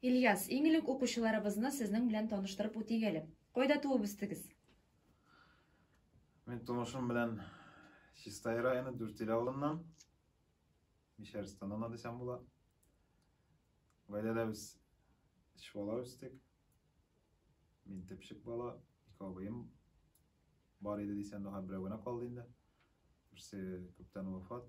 Ильяс, иң элек укучыларыбызны сезнең белән таныштырып үтик әле. Кайда туып үстегез? Мин тумышым белән Чистай районы Дүртил авылыннан. Мишәрстан ана дисәм була. Гаиләдә без үч бала үстек. Мин төпчек бала, ике абыем бар иде дисәм, даһа берәү генә калды инде. Берсе күптән вафат.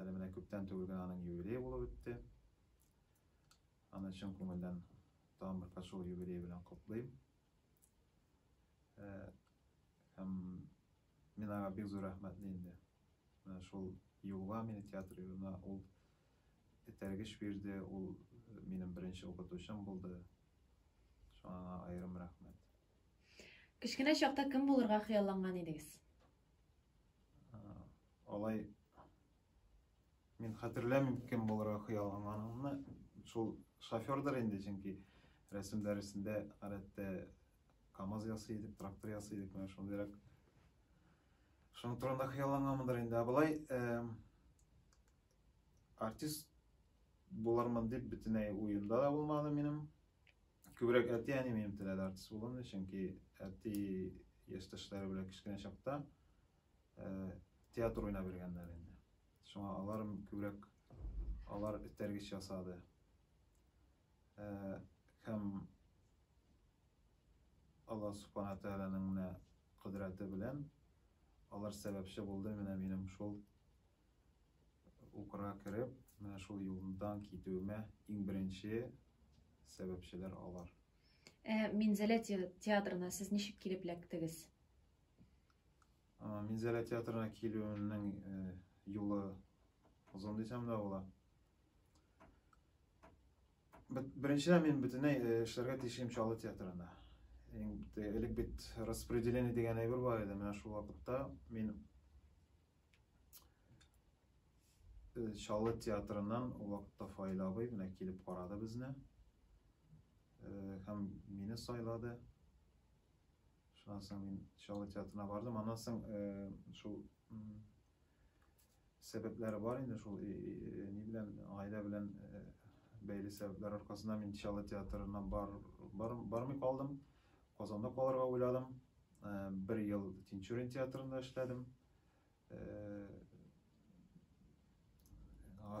Әле менә күптән түгел генә аның юбилее булып үтте. Аны чын күңелдән тагын бер кат шул юбилее белән котлыйм. Һәм мин аңа бик зур рәхмәтле инде. Менә шул юлга мине театр юлына ул этәргеч бирде, ул минем беренче укытучым булды. Шуңа аңа аерым рәхмәт. Кечкенә чакта кем булырга хыялланган идегез? Алай мин хәтерләмим кем булырга хыялланганымны. Шул шофердыр инде, чөнки рәсем дәресендә гадәттә КАМАЗ ясый идек, трактор ясый идек, менә шундыйрак. Шуның турында хыялланганмындыр инде. Ә болай артист булармын дип бөтенләй уемда да булмады минем. күбрәк әти әни минем теләде артист булуымны чөнки әти яшьтәшләре белән кечкенә чакта ә, театр уйнап йөргәннәр инде шуңа алар күбрәк алар этәргеч ясады ә, һәм алла субхана тәгаләнең менә кодрәте белән алар сәбәпче булды менә минем шул Укырга кереп, менә шул юлдан китүемә иң беренче сәбәпчеләр алар. Ә Минзәлә театрына сез ничек килеп эләктегез? Минзәлә театрына килүемнең юлы озын дисәм дә була. Беренчедән мин бөтенләй эшләргә тиешем Чаллы театрында. Элек бит распределение дигән әйбер бар иде. Менә шул вакытта мин Чаллы театрыннан ул вакытта Фаил абый менә килеп карады безне һәм мине сайлады. Шуннан соң мин Чаллы театрына бардым. Аннан соң шул сәбәпләре бар инде шул ни белән гаилә белән бәйле сәбәпләр аркасында мин Чаллы театрына бар, бар, бармый калдым. Казанда калырга уйладым. Бер ел Тинчурин театрында эшләдем.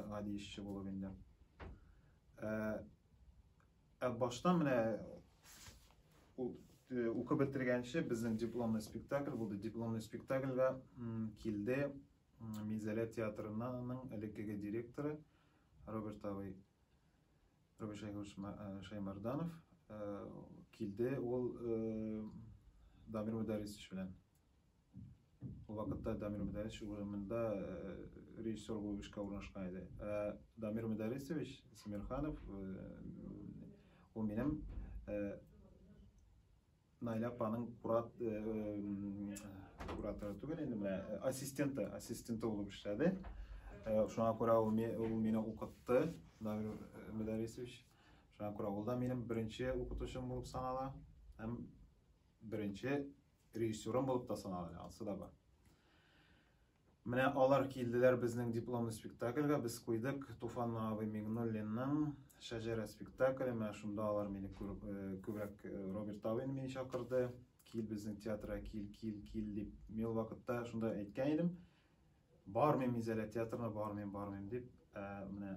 гади эшче булып инде. Ә баштан менә укып бетергәнче безнең дипломный спектакль булды. Дипломный спектакльгә килде Мизәлә театрының элеккеге директоры Роберт абый Роберт Шаймарданов килде ул Дамир Мударисович белән. Ул вакытта Дамир Мөдәрис урамында режиссер булып эшкә урнашкан иде. Ә Дамир Мөдәрисович Симирханов ул минем Найля апаның курат кураторы түгел инде менә ассистенты, ассистенты булып эшләде. Шуңа күрә ул мине укытты, Дамир Мөдәрисович. Шуңа күрә ул да минем беренче укытучым булып санала һәм беренче Режиссерым булып та санала, анысы да бар. Менә алар килделәр безнең дипломный спектакльгә, без куйдык Туфан абый Мигнуллинның Шәҗәрә спектакле, менә шунда алар мине күбрәк Роберт абыйны мине чакырды, кил безнең театрга, кил, кил, кил дип. Мин вакытта шунда әйткән идем, бармыйм Изәлә театрына, бармыйм, бармыйм дип, ә менә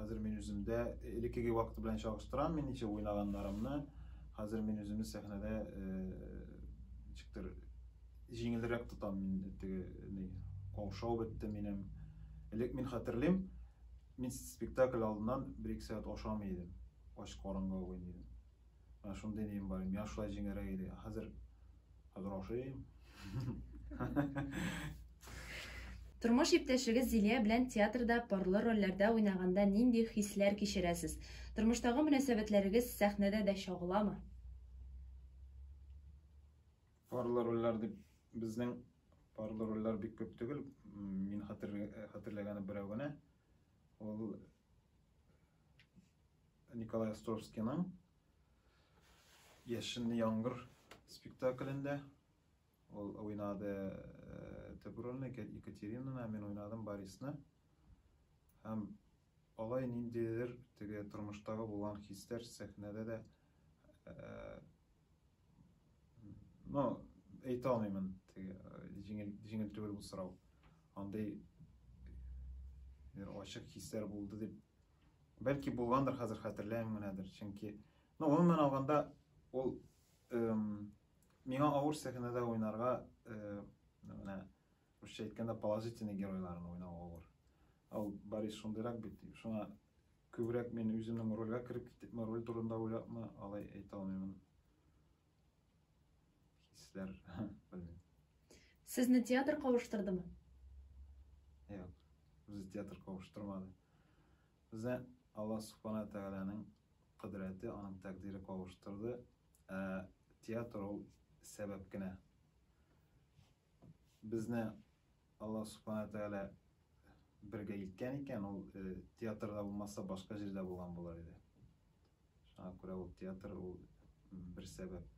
Хәзер мин үземдә элеккеге вакыт белән чагыштырам мин ничә уйнаганнарымны. Хәзер мин үземне сәхнәдә ничектер җиңелрәк тотам мин теге ни каушау бетте минем. Элек мин хәтерлим, мин спектакль алдыннан бер-ике сәгать ашамый идем. Ач карынга уйный идем. Менә шундый нием бар иде, миңа шулай җиңелрәк иде. Хәзер хәзер ашыйм. Тормыш иптәшегез Зилия белән театрда парлы рольләрдә уйнаганда нинди хисләр кичерәсез? Тормыштагы мөнәсәбәтләрегез сәхнәдә дә чагыламы? Парлы рольләр дип безнең парлы рольләр бик күп түгел. Мин хәтерләгәне берәү генә. Ул Николай Островскийның Яшенле яңгыр спектаклендә ул уйнады э, төп рольне Екатеринаны, мин уйнадым Борисны. Һәм алай ниндидер теге тормыштагы булган хисләр сәхнәдә дә э, Ну, әйтә алмыймын, теге җиңел җиңел түгел бу сорау. Андый ачык хисләр булды дип. Бәлки булгандыр, хәзер хәтерләмим генәдер. Чөнки, ну, гомумән алганда, ул миңа авыр сәхнәдә уйнарга, менә русча әйткәндә положительный геройларны уйнау авыр. Ул Борис шундыйрак бит, шуңа Күбрәк мин үземнең рольгә кереп китепме, роль турында уйлапмы, алай әйтә алмыймын. Хисләр, белмим. Сезне театр кавыштырдымы? Юк, без театр кавыштырмады. Безне Аллаһ Субхана Тәгаләнең кодрәте, аның тәкъдире кавыштырды. Ә театр ул сәбәп кенә. Безне Аллаһ Субхана Тәгалә бергә илткән икән, ул театрда булмаса, башка җирдә булган булыр иде. Шуңа күрә ул театр ул бер сәбәп.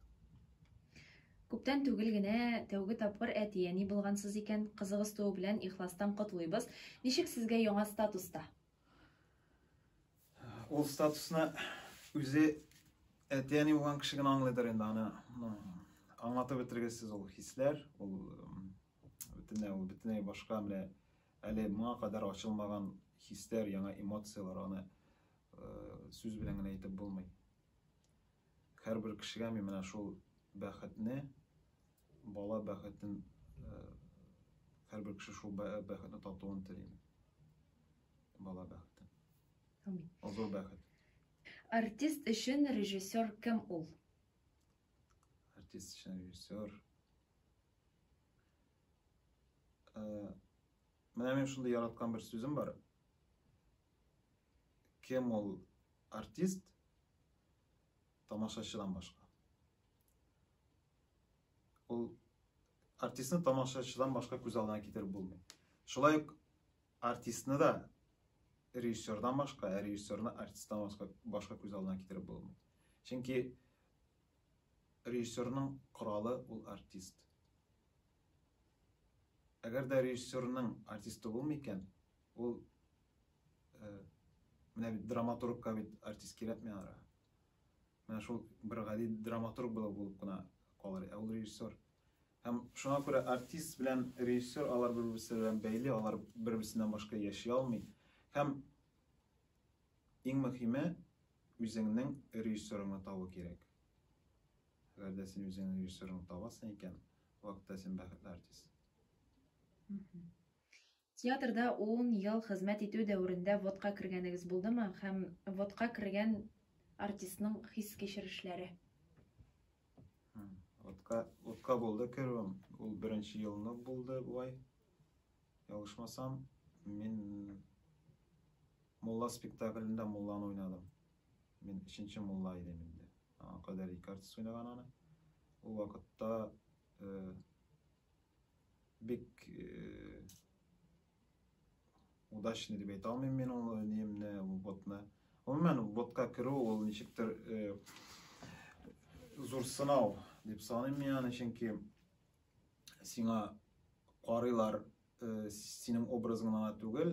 Күптән түгел генә тәүге тапкыр әти-әни булгансыз икән. Кызыгыз тууы белән ихластан котлыйбыз. Ничек сезгә яңа статуста? Ул статусны үзе әти-әни булган кеше генә аңлыйдыр инде аны. Аңлатып бетергесез ул хисләр, ул бөтенләй ул бөтенләй башка менә әле моңа кадәр ачылмаган хисләр, яңа эмоцияләр аны сүз белән генә әйтеп булмый. Һәрбер кешегә мин менә шул бәхетне, бала бәхетен һәрбер кеше шул бәхетне татуын телим. Бала бәхете. Амин. Ул зур бәхет. Артист өчен режиссер кем ул? Артист өчен режиссер. Ә, менә мин шундый яраткан бер сүзем бар. Кем ул артист? Тамашачыдан башка. Ул артистны тамашачыдан башка күз алдына китереп булмый. Шулай ук Артистны да режиссердан башка, ә режиссерны артисттан башка, башка күз алдына китереп булмый. Чөнки режиссерның коралы ул артист. Әгәр дә режиссерның артисты булмый икән, ул э, менә бит драматургка бит артист кирәкми ара. Менә шул бер гади драматург булып булып кына калыр, ә ул режиссер. Һәм шуңа күрә артист белән режиссер алар бер-берсе белән бәйле, алар бер-берсеннән башка яши алмый. Һәм иң мөхиме үзеңнең режиссерыңны табу кирәк. Әгәр дә син үзеңнең режиссерыңны табасың икән, вакытта син бәхетле артист. Театрда ун ел хезмәт итү дәверендә взводка кергәнегез булдымы һәм взводка кергән артистның хис-кичерешләре? Взводка, взводка булды керүем. Ул беренче елны булды бугай. Ялгышмасам, мин Мулла спектаклендә Мулланы уйнадым. Мин өченче Мулла идем инде. Аңа кадәр ике артист уйнаган аны. Ул вакытта э, бик удачный дип әйтә алмыйм мин ул немне ботны гомумән ботка керү ул ничектер зур сынау дип саныйм мин аны чөнки сиңа карыйлар синең образың гына түгел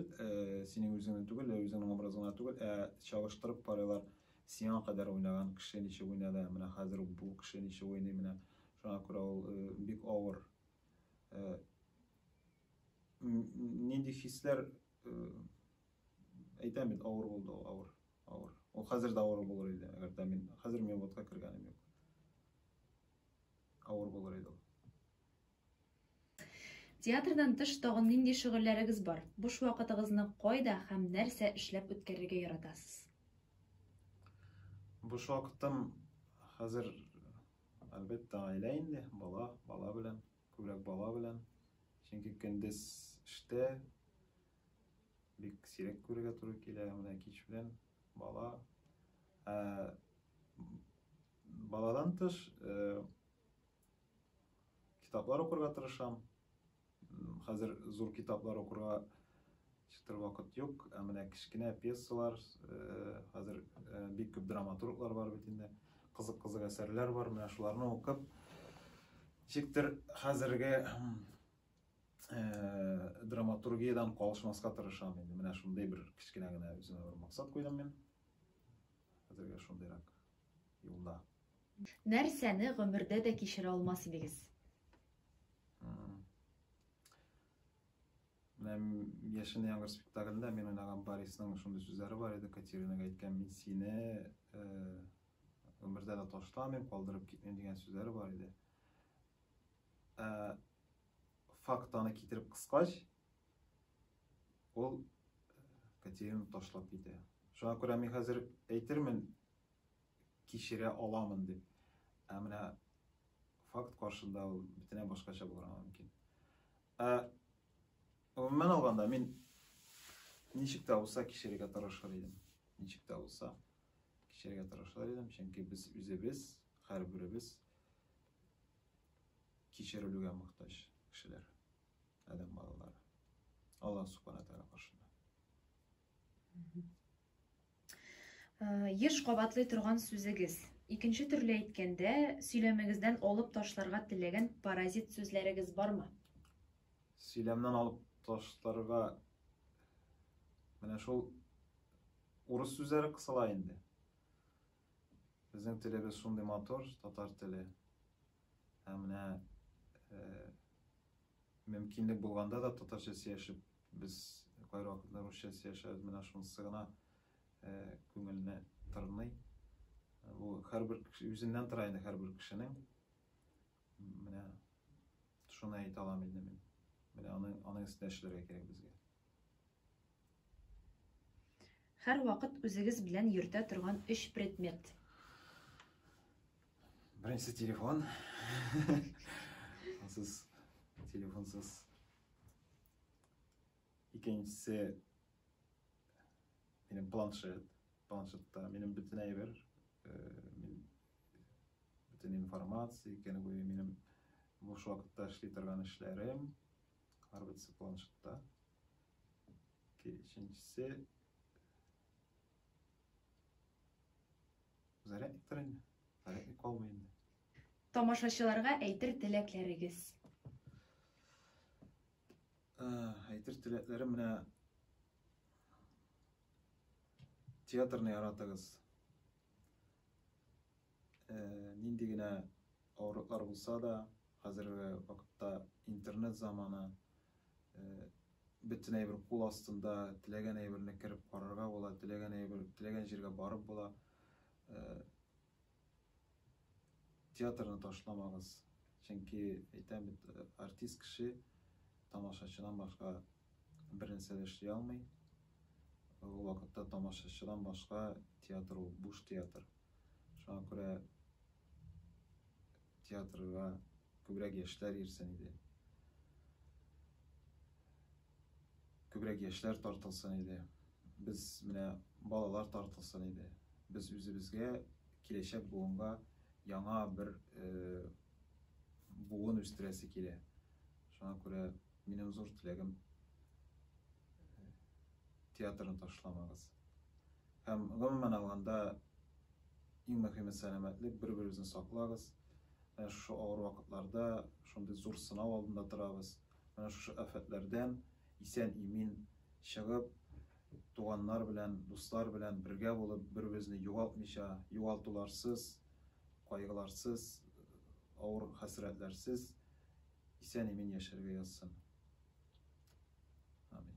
синең үзеңне түгел үзеңнең образың гына түгел ә чагыштырып карыйлар Сиңа кадәр уйнаган кеше ничек уйнады, ә менә хәзер үк бу кеше ничек уйный, менә шуңа күрә ул бик авыр. Нинди хисләр әйтәм бит, авыр булды ул, авыр, авыр. Ул хәзер дә авыр булыр иде, әгәр дә мин хәзер мин водка кергәнем юк. Авыр булыр иде ул. Театрдан тыш тагын нинди шөгыльләрегез бар? Буш вакытыгызны кайда һәм нәрсә эшләп үткәрергә яратасыз? Буш вакытым хәзер, әлбәттә, гаилә инде, бала, бала белән, күбрәк бала белән. Чөнки көндез эштә бик сирәк күрергә туры килә, менә кич белән бала. Ә, баладан тыш, э, Китаплар укырга тырышам. Хәзер зур китаплар укырга чытыр вакыт юк, ә менә кечкенә пьесалар, хәзер бик күп драматурглар бар бит инде. Кызык-кызык әсәрләр бар, менә шуларны укып, ничектер хәзерге драматургиядән калышмаска тырышам инде. Менә шундый бер кечкенә генә үземә бер максат куйдым мин. Хәзергә шундыйрак юлда. Нәрсәне гомердә дә кичерә алмас идегез? Менә Яшен яңгыр спектаклендә мин уйнаган Борисның шундый сүзләре бар иде, Катеринага әйткән, мин сине гомердә э, дә ташламыйм, калдырып китмим дигән сүзләре бар иде. Э, факт аны китереп кыскач, ул Катерина ташлап китә. Шуңа күрә мин хәзер әйтермен, кичерә аламын дип. Ә менә факт каршында ул бөтенләй башкача булырга мөмкин. Ә гомумән алганда мин ничек тә булса кичерергә тырышыр идем. Ничек тә булса кичерергә тырышыр идем, чөнки без үзебез, һәрберебез кичерелүгә мохтаҗ кешеләр, адәм балалары. Алла субхана тәгалә каршында. Еш кабатлый торган сүзегез. Икенче төрле әйткәндә, сөйләмегездән алып ташларга теләгән паразит сүзләрегез бармы? Сөйләмнән алып ташларга менә шул урыс сүзләре кысыла инде. Безнең телебез шундый матур, татар теле. Һәм менә мөмкинлек булганда да татарча сөйләшеп Без кайвакытлар русча сөйләшәбез, менә шунысы гына күңелне тырный. Бу һәрбер үзеннән тора инде һәрбер кешенең. Менә шуны әйтә алам инде мин. Менә аның аның өстенә эшләргә кирәк безгә. Һәрвакыт үзегез белән йөртә торган өч предмет. Беренче телефон. Ансыз телефонсыз Икенчесе минем планшет. Планшетта минем бөтен әйбер, бөтен информация, икән буе минем буш вакытта эшли торган эшләрем, арбасы планшетта. Икенчесе зарядник торын, зарядник калмый инде. Тамашачыларга әйтер теләкләрегез? Ә, әйтер теләкләрем менә театрны яратыгыз. Ә, нинди генә авырлыклар булса да, хәзерге вакытта интернет заманы, ә, бөтен әйбер кул астында, теләгән әйберне кереп карарга була, теләгән әйбер, теләгән җиргә барып була. Ә, Театрны ташламагыз, чөнки, әйтәм бит, артист кеше тамашачыдан башка бернәрсә дә эшли алмый. Ул вакытта тамашачыдан башка театр ул буш театр. Шуңа күрә театрга күбрәк яшьләр йөрсен иде. Күбрәк яшьләр тартылсын иде. Без менә балалар тартылсын иде. Без үзебезгә, киләчәк буынга яңа бер буын үстерәсе килә. Шуңа күрә минем зур теләгем театрны ташламагыз. Һәм гомумән алганда иң мөхиме сәламәтлек, бер-беребезне саклагыз. Менә шушы авыр вакытларда, шундый зур сынау алдында торабыз. Менә шушы афәтләрдән исән-имин чыгып, туганнар белән, дуслар белән бергә булып, беребезне югалтмыйча, югалтуларсыз, кайгыларсыз, авыр хәсрәтләрсез исән-имин яшәргә язсын. Амин.